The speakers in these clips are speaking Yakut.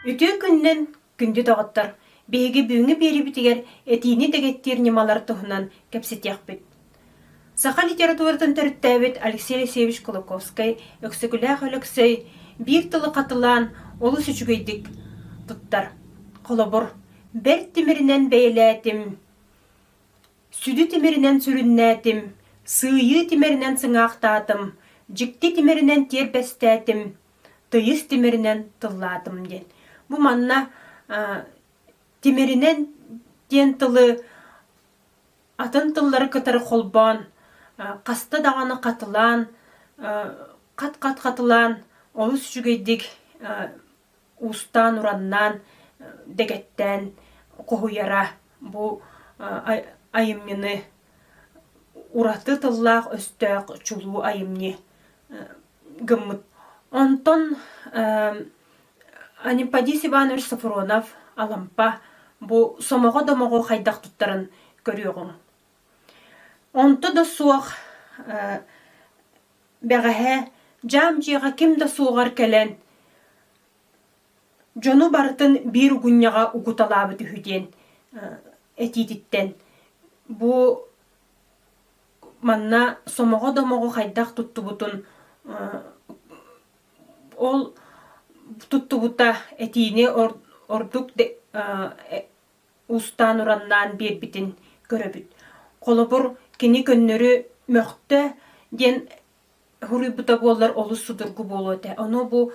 Үтүө күннэн, күндү доҕоттор! Биһиги бүгүҥҥү биэриибитигэр этиини дэгиттиир ньымалар туһунан кэпсэтиэхпит. Саха литературатын төрүттээбит Алексей Алексеевич Кулаковскай, Өксөкүлээх Өлөксөй биир тылы хатылаан олус үчүгэйдик туттар. Холобур, бэрт тимиринэн бэйэлээтим, сүдү тимиринэн сүрүннээтим, сыыйыы тимиринэн сыҥаахтаатым, дьикти тимиринэн тиэрбэстээтим, тыйыс тимиринэн тыллаатым диэн. Бу манна тимиринэн диэн тылы атын тыллары кытары холбоон, хаста даҕаны хатылаан, хат-хат хатылаан, олус үчүгэйдик уустаан-ураннаан, дэгэттээн хоһуйара бу айымньыны ураты тыллаах-өстөөх чулуу айымньы гыммыт. Онтон Аниппадис Иванович Софронов, Алампа, бу сомоҕо-домоҕу хайдах туттаран көрүөҕүҥ. Онто да суох бэҕэһээ дьаам дьиэҕэ ким да суоҕар кэлэн дьону барытын биир угунньаҕа угуталаабыт үһү диэн этиититтэн бу манна сомоҕо-домоҕу хайдах туттубутун Ол туттубута этиини ордук устаан-ураннаан биэрбитин көрөбүт. Холобур, кини көннөрү «мөхтө» диэн суруйбута буоллар олус судургу буолуо этэ. Ону бу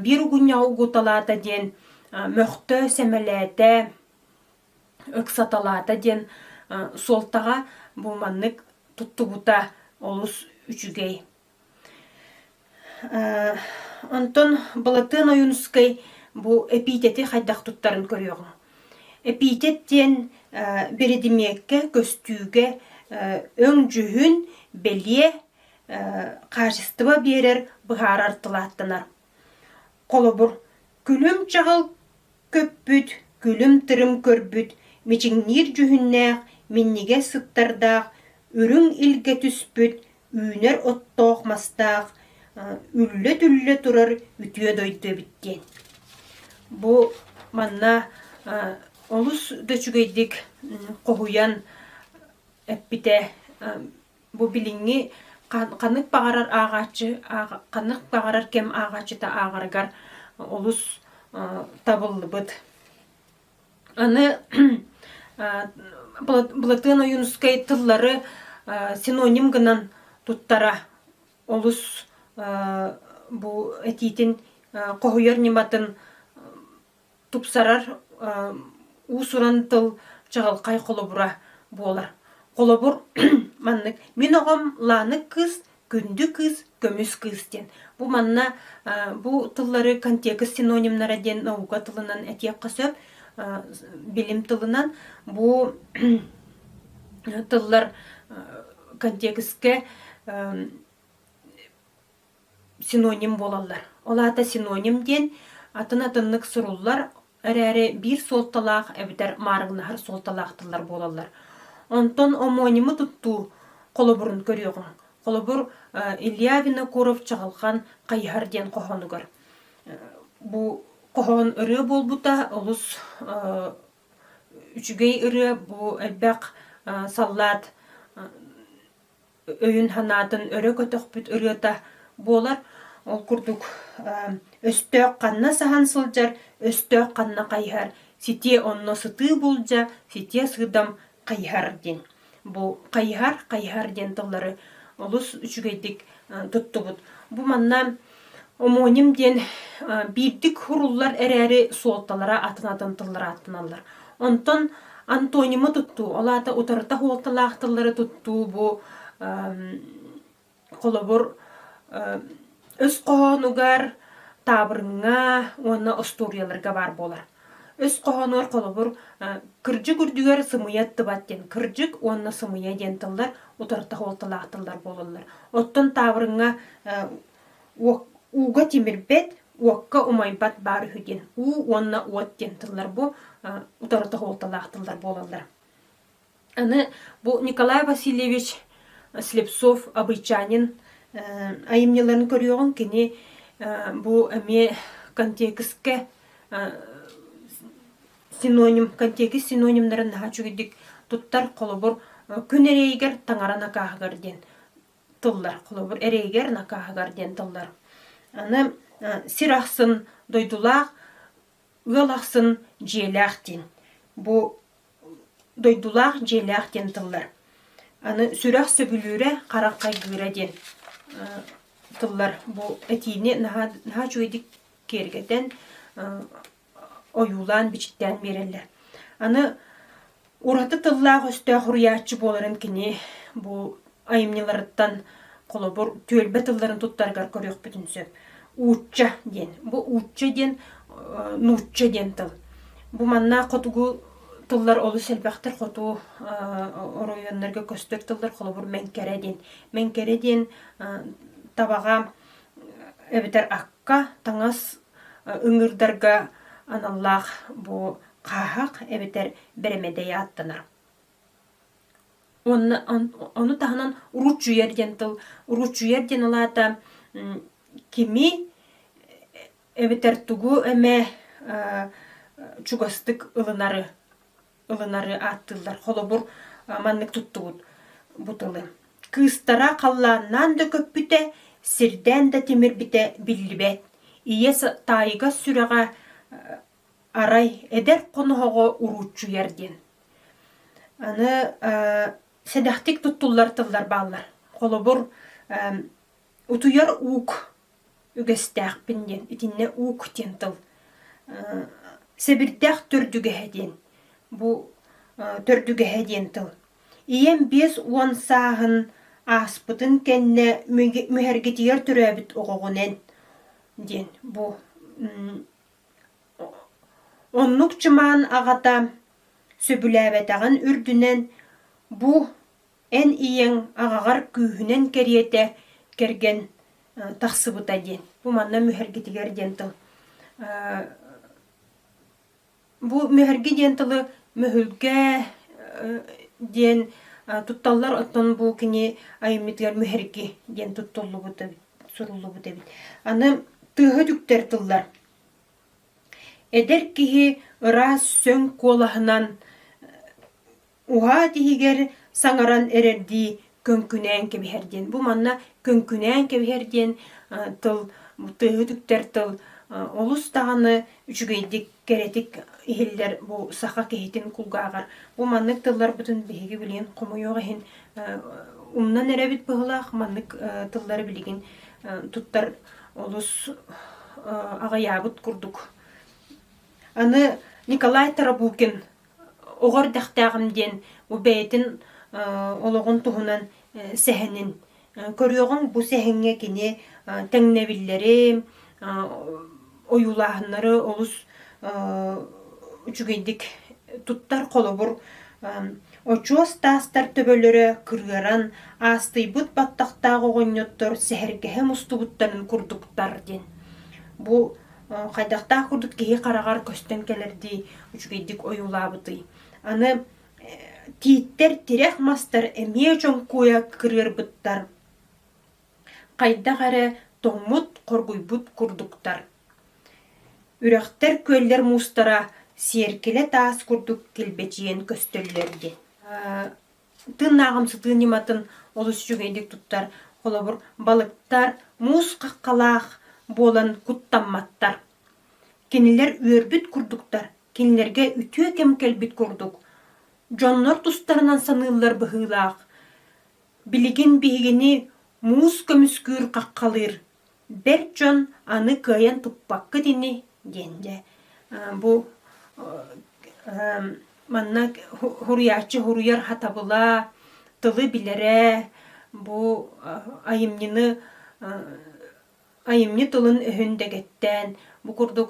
«биир угунньаҕы угуталаата» диэн мөхтө, сэмэлээтэ, ыксаталаата диэн суолтаҕа бу маннык туттубута олус үчүгэй. Онтон Былатыан Ойуунускай бу эпитети хайдах туттарын көрүөҕүҥ. Эпитет диэн биридимиэккэ, көстүүгэ өҥ-дьүһүн, бэлиэ, хаачыстыба биэрэр, быһаарар тылааттанар. Холобур, күлүм-чаҕыл көппүт, күлүм-тырым көрбүт, мичиҥниир дьүһүннээх, минньигэс сыттардаах, үрүҥ илгэ түспүт, үүнэр оттоох-мастаах, үллэ-түллэ турар үтүө дойду эбит диэн. Бу манна олус да үчүгэйдик хоһуйан эппитэ Бу билиҥҥи ханнык баҕарар ааҕааччы ханнык баҕарар кэм ааҕааччыта ааҕарыгар олус табыллыбыт. Аны Былатыан Ойуунускай тыллары синоним гынан туттара олус бу этиитин хоһуйар ньыматын тупсарар уус-уран тыл чаҕылхай холобура буолар. Холобур, маннык: «Мин оҕом ланык кыыс, күндү кыыс, көмүс кыыс» диэн. Бу манна бу тыллары контекст синонимнара диэн наука тылынан этиэххэ сөп. Билим тылынан бу тыллар контекстке синоним буолаллар. Ол аата синоним диэн атын атыннык суруллар эрээри биир суолталаах эбэтэр маарыгнаһар суолталаах тыллар буолаллар. Онтон омонимы туттуу холобурун көрүөҕүҥ. Холобур, Илья Винокуров Чаҕылхан хайыһар диэн хоһоонугар. Бу хоһоон ырыа буолбута олус үчүгэй ырыа, бу элбэх саллаат өйүн-санаатын өрө көтөхпүт ырыата буолар. Ол курдук өстөөх ханна саһан сылдьар, өстөөх ханна хайыһар, ситиэ онно сытыы булдьа, ситиэ сыдам хайыһар диэн. Бу хайыһар, хайыһар диэн тыллары олус үчүгэйдик туттубут. Бу манна Омуонньум диэн биирдик суруллар эрээри суолталара атын-атын тыллар ааттаналлар. Онтон антонимы туттуу, ол аата утарыта суолталаах тыллары туттуу бу холобур өс хоһоонугар, таабырыҥҥа уонна остуоруйаларга баар буолар. Өс хоһоонугар холобур кырдьык үрдүгэр сымыйа аттыбат диэн кырдьык уонна сымыйа диэн тыллар утарыта суолталаах тыллар буолаллар. Оттон таабырыҥҥа ууга тимирбэт, уокка умайбат баар үһү диэн уу уонна уот диэн тыллар бу утарыта суолталаах тыллар буолаллар. Аны бу Николай Васильевич Слепцов Абыйчанин айымньыларын көрүөҕүҥ. Кини бу эмиэ контекстка синоним, контекст синонимнарын наһаа үчүгэйдик туттар. Холобур, күн эрэйигэр таҥара накааһыгар диэн тыллар. Холобур, эрэйигэр накааһыгар диэн тыллар. Аны сир ахсын дойдулаах Ыал ахсын дьиэлээх диэн, бу дойдулаах дьиэлээх диэн тыллар. Аны сүрэх сөбүлүүрэ, харах хайгыыра диэн тыллар бу этиини наһаа наһаа үчүгэйдик киэргэтэн ойуулаан, бичиктээн биэрэллэр. Аны Ураты тыллаах-өстөөх уруйааччы буоларын кини бу айымньыларыттан, холобур, түөлбэ тылларын туттарыгар көрүөхпүтүн сөп. Уучча диэн. Бу уучча диэн, нуучча диэн тыл. Бу манна хотугу тыллар олус элбэхтэр, хоту оройуоннарга көстөр тыллар, холобур, мэҥкэрэ диэн. Мэҥкэрэ диэн табаҕа эбэтэр акка, таҥас ыҥыырдарга аналлаах бу хааһах эбэтэр бэрэмэдэй ааттанар. Онно ону таһынан ручуер диэн тыл ручуер диэн улаата кими эбэтэр тугу эмэ чугастык ылынары ылынары ааттыыллар холобур маннык туттубут бу тылы кыыстара халлааннаан да көппүтэ сирдээн да тимирбитэ биллибэт ийэ таайга сүрэҕэ Арай эдэр хоноһоҕо урууччуйар диэн. Аны сэдэхтик туттуллар-тыллар бааллар. Холобур, утуйар уук үгэстээхпин диэн, итиннэ уук диэн тыл. Сэбирдэх төрдүгэһэ диэн, бу төрдүгэһэ диэн тыл. Ийэм биэс уон сааһын ааспытын кэннэ мүһэргитийэр төрөөбүт оҕоҕунан диэн бу Оннук чымаан аҕата сөбүлээбэтэҕин үрдүнэн, бу эн ийэҥ аҕаҕар күүһүнэн кэриэтэ кэргэн тахсыбыта диэн, бу манна мүһэргитигэр диэн тыл бу мүһэрги диэн тылы мөһүлгэ диэн тутталлар, оттон бу кини айымньытыгар мүһэрги диэн туттуллубут эбит суруллубут эбит. Аны тыаһа түктэр тыллар. Эдэр киһи ыраас сөҥ куолаһынан уһаат иһигэр саҥаран эрэрдии көҥкүнээн кэбиһэр диэн. Бу манна көҥкүнээн кэбиһэр диэн тыл, тыаһы түктэр тыл олус даҕаны үчүгэйдик, кэрэтик иһиллэр бу саха киһитин кулгааҕар. Бу маннык тылларбытын биһиги билигин хомуйуох иһин умнан эрэбит быһылаах маннык тыллары билигин туттар олус аҕыйаабыт курдук. Аны Николай Тарабукин оҕо эрдэхтээҕим диэн бу бэйэтин олоҕун туһунан сэһэнин көрүөҕүҥ бу сэһэҥҥэ кини тэҥнэбиллэри ойуулааһыннары олус үчүгэйдик туттар холобур очуос таастар төбөлөрө кырыаран аастыйбыт баттахтаах оҕонньоттор сэһэргэһэ мустубуттарын курдуктар диэн бу хайдахтаах курдук киһи хараҕар көстөн кэлэрдии үчүгэйдик ойуулаабытый аны тииттэр тирэх мастар эмиэ чоҥкуйа кырыарбыттар хайдах эрэ тоҥмут хоргуйбут курдуктар үрэхтэр күөллэр муустара сиэркилэ таас курдук килбэчийэн көстөллөр диэн Тыыннааҕым сытыы ньыматын олус үчүгэйдик туттар. Холобур, балыктар муус хаххалаах буолан куттамматтар. Кинилэр үөрбүт курдуктар, кинилэргэ үтүө кэм кэлбит курдук. Дьоннор тустарынан саныыллар быһыылаах. Билигин биһигини муус көмүскүүр хаххалыыр, бэрт дьон аны кыайан туппаккыт ини диэн дьэ бу манна суруйааччы суруйар хатабыла тылы билэрэ бу айымньыны айымньы тылын-өһүн дэгэттээн бу курдук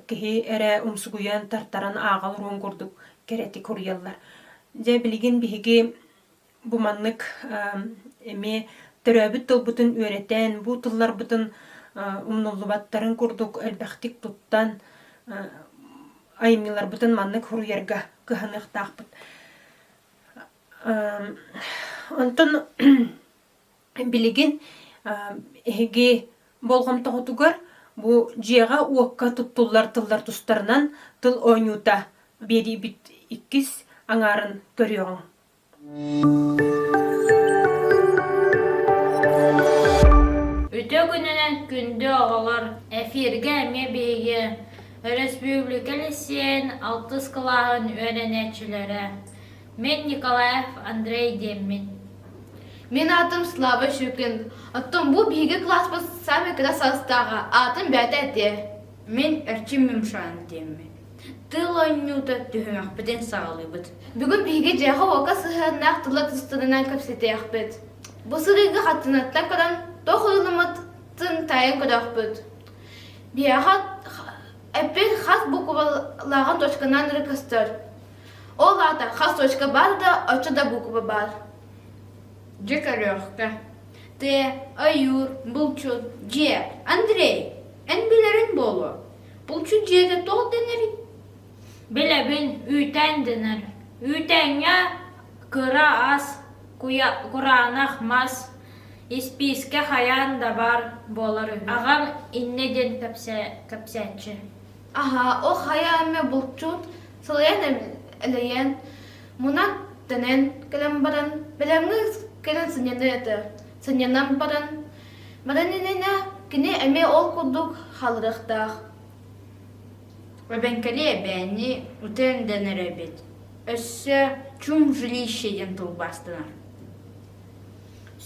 киһи эрэ умсугуйан тартаран ааҕар уруун курдук кэрэтик суруйаллар дьэ билигин биһиги Бу маннык эмиэ төрөөбүт тылбытын үөрэтэн, бу тылларбытын умнуллубаттарын курдук элбэхтик туттан, айымньыларбытын маннык суруйарга кыһаныахтаахпыт. Онтон билигин эһиги болҕомтоҕутугар бу дьиэҕэ-уокка туттуллар тыллар тустарынан тыл оонньуута биэриибит иккис аҥаарын көрүөҕүҥ. Үтө күнүнэн күндү оҕолор! Эфиргэ эмиэ биһиги өрөспүүбүлүкэ лиссиэйин алтыс кылааһын үөрэнээччилэрэ мин Николаев Андрей диэммит Мин аатым Слава Щукин. Оттон бу биһиги кылааспыт самый кыра саастааҕа аатын бэйэтэ этиэ Мин Эрчим Мимшаан диэммин. Тыл оонньуута түһүмэхпитин саҕалыыбыт. Бүгүн биһиги дьиэҕэ-уокка сыһыаннаах тыл ытыстарынан кэпсэтиэхпит. Бу сырыыга хаттынаттан көрөн, туох ылыммытын таайан көрөхпүт. Биһиэхэ эппин хас буквалааҕын точканан эрэ көстөр. Ол аата хас точка баар да, оччо да буква баар. Дьэ көрүөххэ. Те, ойуур, булчут, дьиэ, Андрей, эн билэрин буолуо. Булчут дьиэтэ туох дэнэрий? Билэбин, үүтээн дэнэр. Үүтээҥҥэ кыра ас, куйа, кураанах мас, испиискэ хайаан да баар буолар үһү. Аҕам иннэ диэн кэпсээ, кэпсээччи. Аһа, ол хайа эмэ булчут, сылайан элэйэн, Мунах тэнэн кэлэн баран, бэлэмҥэ кэлэн сынньана этэ. Сынньанан баран, баранинына кини эмиэ ол курдук халырыктаах. Эбэҥкэли эбээни утен дэнэр эбит. Өссө чум жилище диэн тылбаастанар.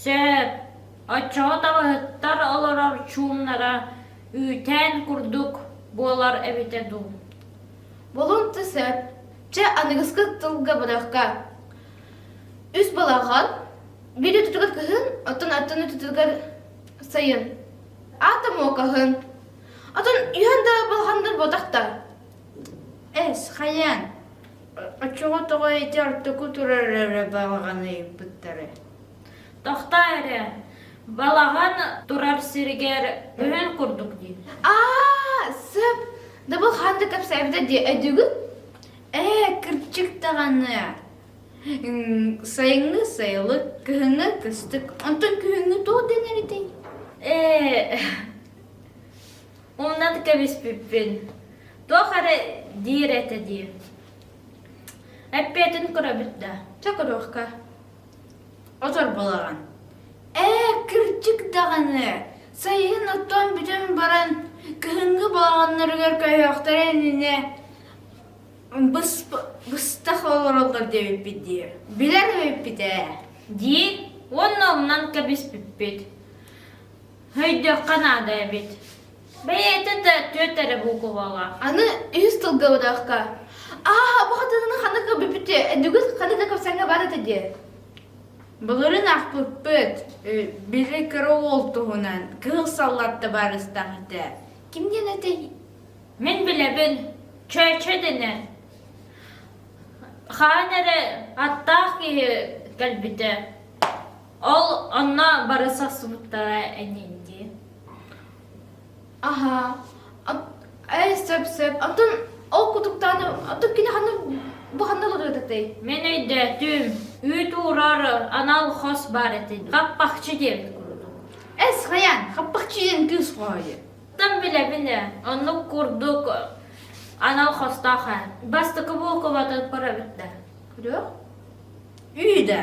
Сөп. Оччоҕо табаһыттар олорор чуумнара үүтээн курдук буолар эбитэ дуу Болумта сөп. Чэ, аныгыскы тылга бырахка. Үс балаҕан, бири тутугар кыһын, оттон аттыны тутугар сайын. Аата муокаһын. Оттон үһэн да балаҕандар ботахтар. Эс, хайаан? Оччоҕо тоҕо ити ортоку турар эрэ балаҕаны ыйыппыттары? Тохтоо эрэ, балаҕан турар сиригэр өһөн курдук дии. Аа, сөп. Да бу хаан да кэпсээбитэ дии өдүгү? Ээ, кырчык даҕаны. Сайыҥҥы сайылык, кыһыҥҥы кыстык. Онтон күһүҥҥү туох дэнэритэй? Ээ, умнан кэбиспиппин. Туох эрэ диир этэ дии. Эппиэтин көрөбүт да. Чэ, көрүөххэ. Оторболоон, ээ, кырдьык даҕаны, сайын оттон бүтэн баран, кыһыҥҥы балаҕаннарыгар көйөхтөрө иннинэ бысп- быстах олороллор диэбиппит дии. Билэн эбиппит ээ, диир уонна ылынан кэбиспиппит Өйдүөххэ наада эбит. Бэйэтэ да түөрт эрэ буукубаҕа. Аны үһүс тылга быдаахха. Аа, бу хатыны ханна көрбүппүтү, бүгүн ханна да көрсөҥҥө баар этэ диэ. Былырын ахпыппыт, били кыра уол туһунан кыыл саллатта барыстах этэ. Ким диэн этэй? Мин билэбин, чөөчө дэнэ. Хаан эрэ аттаах киһи кэлбитэ. Ол онно бары сахсыбыттара энинди. Аха. Эй, сөп-сөп. Оттон ол кутуктааны оттон кини ханна бу ханна олордотой? Мен өйдөөтүм. Үүт уурар анал хос бар этин. Хаппахчы диэбит курдук. Эс хайан, хаппахчы диэн кыыс хоһойу. Там біле-біле. Оннук курдук анал хостоха. Бастакы булкубатыр парабитта. Күрө? Үйдә.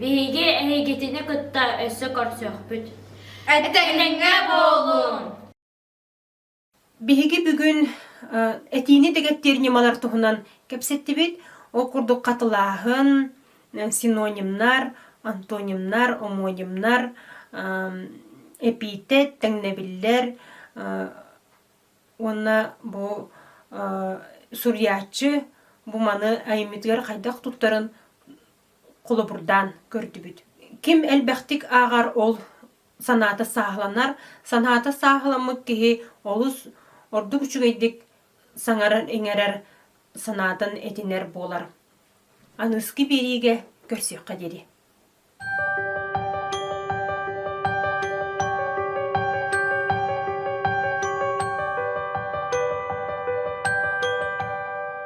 Биһиги эйигитини кытта өссө көрсүөхпүт. Этэҥҥэ буолуун! Биһиги бүгүн этиини дэгэтtiэр ньымалар туһунан кэпсэттибит. Ол курдук хатылааһын, синонимнар, антонимнар, омонимнар, эпиитет, тэҥнэбиллэр уонна бу суруйааччы бу маны айымньытыгар хайдах туттарын холобурдаан көрдүбүт. Ким элбэхтик ааҕар ол санаата сааһыланар, санаата сааһыламмыт киһи олус ордук үчүгэйдик саҥаран иҥэрэр санаатын этинэр буолар. Аныски биэриигэ көрсүөххэ диэри.